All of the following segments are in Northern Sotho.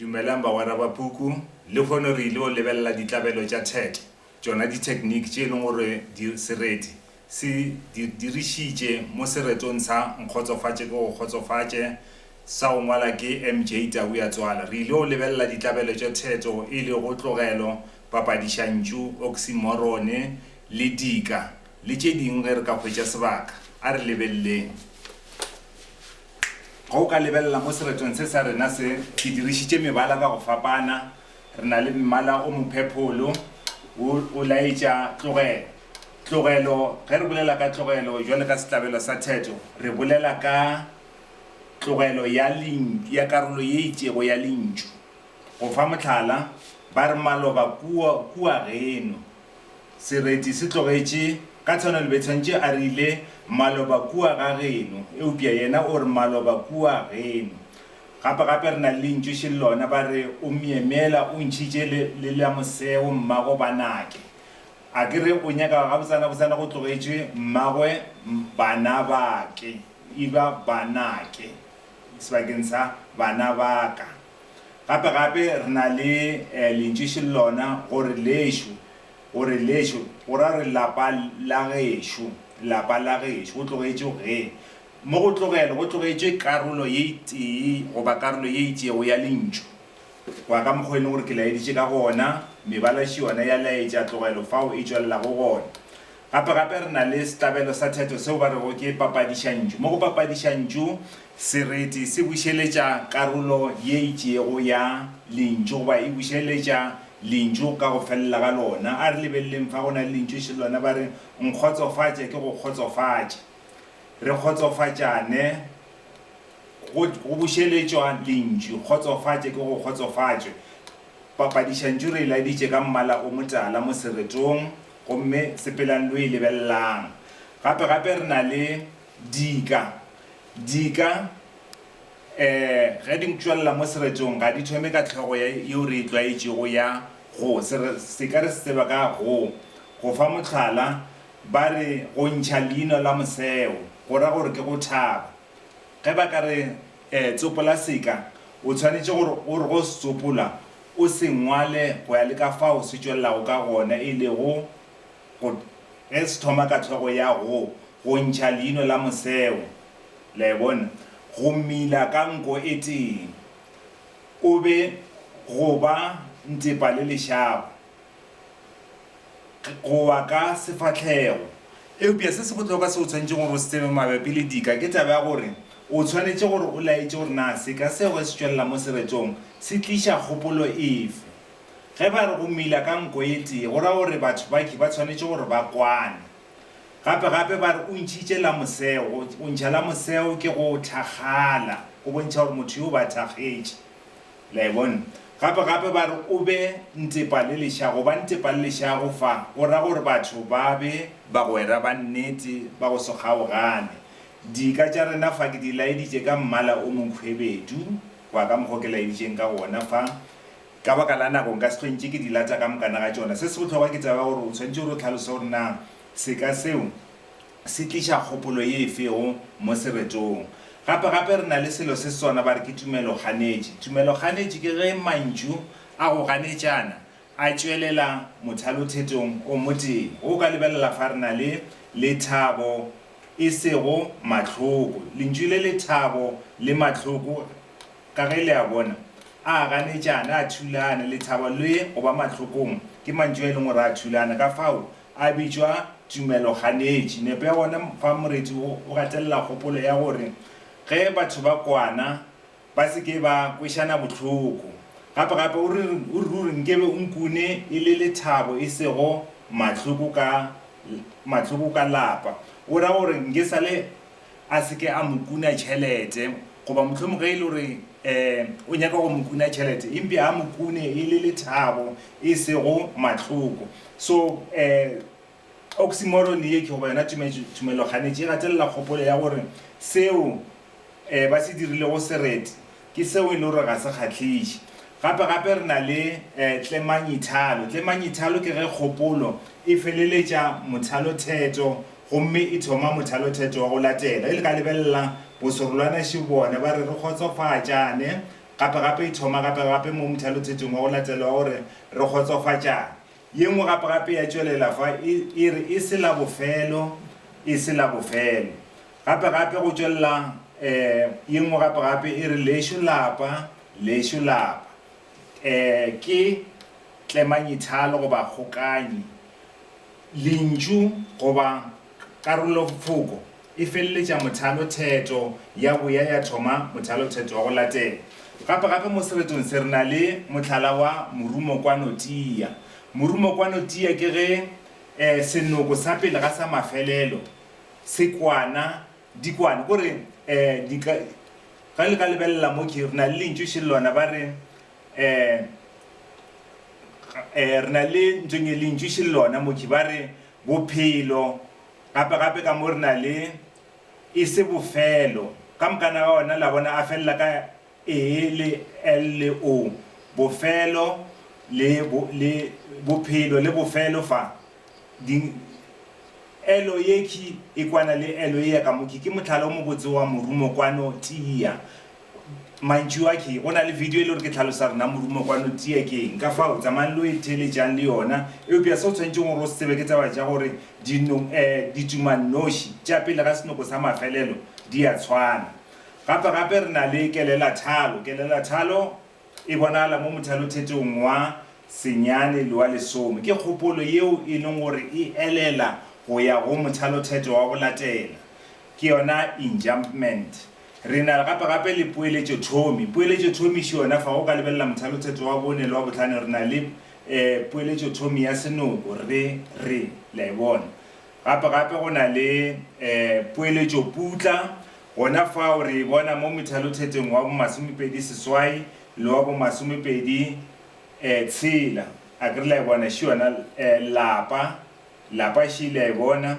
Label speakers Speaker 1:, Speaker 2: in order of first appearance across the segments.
Speaker 1: Dumelang bagwera ba puku. Lehono re il'o lebelela ditlabelo tša TET, tšona ditechnique tše e leng gore di sereti se di dirišitše mo seretong sa Nkgotsofatše ke go kgotsofatše, sa go ngwala ke MJ Tabuya Tswala. Re il'o lebelela ditlabelo tša theto e lego tlogelo, papadišantšu, oksimorone, le dika, le tše ding ge re ka hwetša sebaka. A re lebelleng. Ge o ka lebelela mo seretong se sa rena se, ke dirišitše mebala ka go fapana. Re na le mmala o mophepholo, wo o laetša tlogelo. Tlogelo, ge re bolela ka tlogelo bjalo ka sehlabelo sa theto, re bolela ka tlogelo ya ya karolo ye itšego ya lentšu. Go fa mohlala, ba re maloba kua, kua geno. Sereti se tlogetše, ka tshwanelo Bethantše a rile, Maloba kua ga geno, eupša yena o re, Maloba kua geno. Gape, gape re na le lentšu še le lona, ba re, O myemyela, o ntšhitše le, le la moseo, mmago Banake. A ke re o nyaka gabotsenabotsena go tlogetšwe mmagwe Banabake, e ba Banake, sebakeng sa Banabaka. Gape-gape re na le lentšu še lona go re lešo, go re lešo go ra gore lapa la gešo, lapa la gešo, go tlogetšwe ge. Mo go tlogela go tlogetšwe karolo ye tee goba karolo ye itšego ya lentšu. Go ya ka mokgwa e leng gore ke laeditše ka gona, mebala še yona ya laetša tlogelo fao e tšwelelago gona. Gape gape re na le setlabelo sa theto seo ba rego ke papadišantšu. Mo go papadišantšu, sereti se bušeletša karolo ye itšego ya lentšu goba e bušeletša lentšu ka go felela ga lona. A re lebeleleng fa go na le lentšu še lona ba re, Nkgotsofatša ke go kgotsofatša. Re kgotsofatšane go go bušeletšwa lentšu, kgotsofatša ke go kgotsofatšwe. Papadišantšu re e laditše ka mmala o motala mo seretong Gomme sepelang lo e lebelelang. Gape, gape re na le dika. Dika, ee, ge di ntšwelela mo seretong, ga di thome ka hlogo ya, yeo re e tlwaetšego ya go, se re, se ka re se tseba ka go, go fa mohlala, ba re, go ntšha leino la moseo, go ra gore ke go thaba. Ge ba ka re, ee, tsopola seka, o tshwanetše gore o re go se tsopola, o se ngwale go ya le ka fao se tšwelelago ka gona, e lego go, ge se thoma ka hlogo ya go, go ntšha leino la moseo. Le a e bona? Go mila ka nko e tee. O be, go ba, ntepa le lešago. go wa ka sefahlego. Eupša se se bohlokwa seo o swanetšego gore o se tsebe mabapi le dika ke taba ya gore o swanetše gore o laetše gore na seka seo ge se tšwelela mo seretong se tliša kgopolo efe. Ge ba re go mila ka nko e tee go ra gore batho baki ba swanetše gore ba kwane. Gape gape ba re o ntšhitše la moseo, go ntšha la moseo ke go thakgala, go bontšha gore motho yo o ba thakgetše. Le a e bona? Gape, gape ba re, O be ntepa le lešago. Ba ntepa le lešago fa. O ra gore batho ba be bagwera ba nnete ba go se kgaogane. Dika tša rena fa ke di laeditše ka mmala o monkhwebedu, kwa ka mokgwa o ke laeditšeng ka wona fa. Ka baka la nako nka se hlwe ntše ke di lata ka mokana ga tšona. Se se bohlokwa ke taba ya gore o swanetše gore o hlalose gore na seka seo Se tliša kgopolo ye e fego mo seretong. Gape, gape re na le selo se sona ba re ke tumelo-ganetši. Tumelo-ganetši ke ge mantšu a go ganetšana a tšwelela mothalothetong o motee. O ka lebelela fa re na le lethabo e sego mahloko. Lentšu le lethabo le mahloko, ka ge le a bona, a ganetšana, a thulana. Lethabo le go ba mahlokong ke mantšu a e leng gore a thulana. Kafao A bitšwa tumelo-ganetši. Nepo ya gona fa moreti wo o gatelela kgopolo ya gore ge batho ba kwana ba se ke ba kwešana bohloko. Gape gape o re o re ruri nkebe o nkune e le lethabo e sego mahloko ka mahloko ka lapa. O ra gore nke sa le a se ke a mo kuna tšhelete, goba mohlomong ge e le gore um o nyaka go mo kuna tšhelete, empja a mo kune e le lethabo e sego mahloko. So, um oxymoron ye ke, goba yona tumeloganetši e gatelela kgopolo ya gore seo um ba se dirilego sereti Ke seo e le gore ga se kgahliše. Gape gape re na le tlemanyithalo. Tlemanyithalo ke ge kgopolo e feleletša mothalothetho gomme e thoma mothalothetho wa go latela. E le ka lebelela boserolwana še bone ba re re kgotsofatšane. Gape gape e thoma gape gape mo mothalothethong wa go latela wa gore re kgotsofatšane. Ye nngwe gape-gape ya tšwelela fa e, e re, E se la bofelo, e se la bofelo. Gape-gape go tšwelela e, ye nngwe gape-gape e re, Lešo lapa, lešo lapa. E, ke tlemanyithalo goba kgokanyi, lentšu goba. Karolofoko e feleletša mothalotheto ya boya ya thoma mothalotheto wa go latela. Gapegape mo seretong se re na le mohlala wa morumokwanotia. Morumokwanotia ke ge e, senoko sa pele ga sa mafelelo se kwana, di kwana. Ko re e, di ka, ge le ka lebelela mo ke, re na le lentšu še lona ba re e, e, re na le ntšong e lentšu še lona mo ke ba re Bophelo, gape-gape ka mo re na le, e se bofelo. Ka mokana wa ona, la bona, a felela ka ee le el le o, bofelo le, bo, le, bophelo le bofelo fa. Di, elo ye khi e kwana le elo ye ya ka mo, khi ke mohlala o mobotse wa morumo kwano, tia. Mantšu a ke, go na le video e le gore ke tlhalosa rena morumo kwano tia ke eng. Ka fao, tsamayang lo e theeletšang le yona. Eupša se o tshwanetšeng gore o se tsebe ke taba tša gore dino, eh, ditumannoši tša pele ga senoko sa mafelelo di a tshwana. Gape-gape re na le kelelathalo. Kelelathalo e bonagala mo mothalothetong wa senyane le wa lesome. Ke kgopolo yeo e leng gore e elela go ya go mothalothetho wa go latela. Ke yona enjumpment. Re na gape-gape le poeletšothomi. Poeletšothomiši yona, fa go ka lebelela Mothalotheto wa Bone le wa Bohlano, re na le poeletšothomi ya senoko, re, re. Le a e bona? Gape-gape go na le poeletšoputla gona fao, re e bona mo Methalothetong wa bomasomepedi seswai le wa bomasomepedi tshela. A ke re le a e bona? Še yona lapa, lapa še, le a e bona?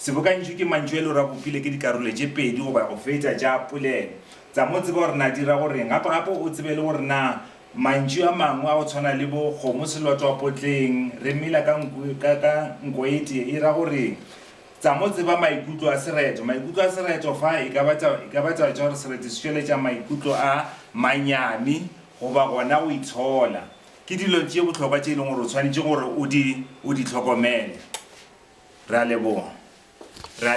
Speaker 1: Sebokantšu ke mantšu e le gore a bopile ke dikarolo tše pedi goba go feta tša polelo. Tsa mo tseba gore na di ra go reng. Gape gape o tsebe le gore na mantšu a mangwe a go tshwana le bo kgomo selotwa potleng, re mela ka nku ka ka nkoetee e ra go reng. Tsa mo tseba maikutlo a sereto. Maikutlo a sereto fa e ka ba taba e ka ba taba tša gore sereto se tšweletša maikutlo a manyami goba gona go itshola. Ke dilo tše bohlokwa tše e leng gore o swanetše gore o di, o di hlokomele. Re a leboga. Re a.